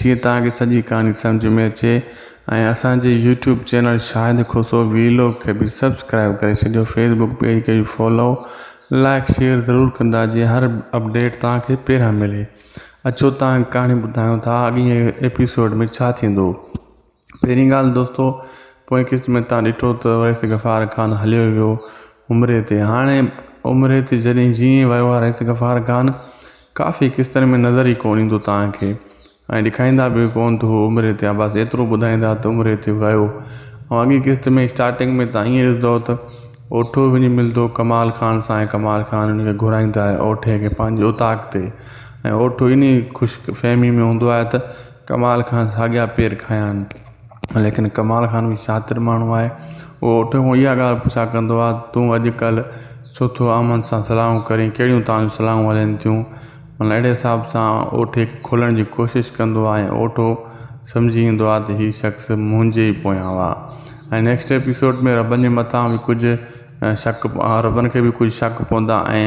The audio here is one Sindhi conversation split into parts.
جيئن توهان کي سڄي ڪهاڻي سمجهه ۾ اچي ۽ اسان جي YouTube channel Shahid Khoso vlog کي به سبسڪرائيب ڪري ڇڏيو فيس بڪ پيج کي به فالو لائڪ شيئر ضرور ڪندا جيئن هر اپڊيٽ توهان کي پهريان ملي اچو توهان کي ڪهاڻي ٻڌايون ٿا اڳئين ايپيسوڊ ۾ ڇا ٿيندو. پهرين ڳالهه دوستو پوئين قسط ۾ تان ڏٺو ته رئيس غفار خان هليو ويو عمري تي هاڻي عمري تي جڏهن جيئن ويو آهي رئيس غفار خان ڪافي قسطن ۾ نظر ئي ڪون ايندو تان کي ۽ ڏيکائيندا به ڪون ته هو عمري تي آهي بس ايترو ٻڌائيندا ته عمري تي ويو ۽ اڳي قسط ۾ اسٽارٽنگ ۾ تان ائين ڏسندو ته اوٺو وڃي ملندو ڪمال خان سان ۽ ڪمال خان ان کي گهرائيندا آهي اوٺي کي پنهنجي اوطاق تي ۽ اوٺو انهي خوش فهمي ۾ هوندو آهي ته ڪمال خان ساڳيا پير کنيان ليڪن ڪمال خان به شاطر ماڻهو آهي هو اٺ مون اها ڳالهه پڇا ڪندو آهي تون اڄڪلهه ڇو ٿو امن سان صلاحون ڪرين ڪهڙيون تانجون صلاحون هلين ٿيون مطلب اهڙي حساب سان اوٺي کي کولڻ جي ڪوشش ڪندو آهي ۽ اوٺو سمجهي ويندو آهي ته هي شخص منهنجي ئي پويان هئا ۽ نيڪسٽ ايپيسوڊ ۾ ربن جي مٿان به ڪجهه شڪ ربن کي به ڪجهه شڪ پوندا ۽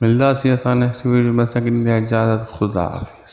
ملداسين اسان نيڪسٽ ويڊيو ۾ اسان کي ڏيندي اجازت خدا حافظ.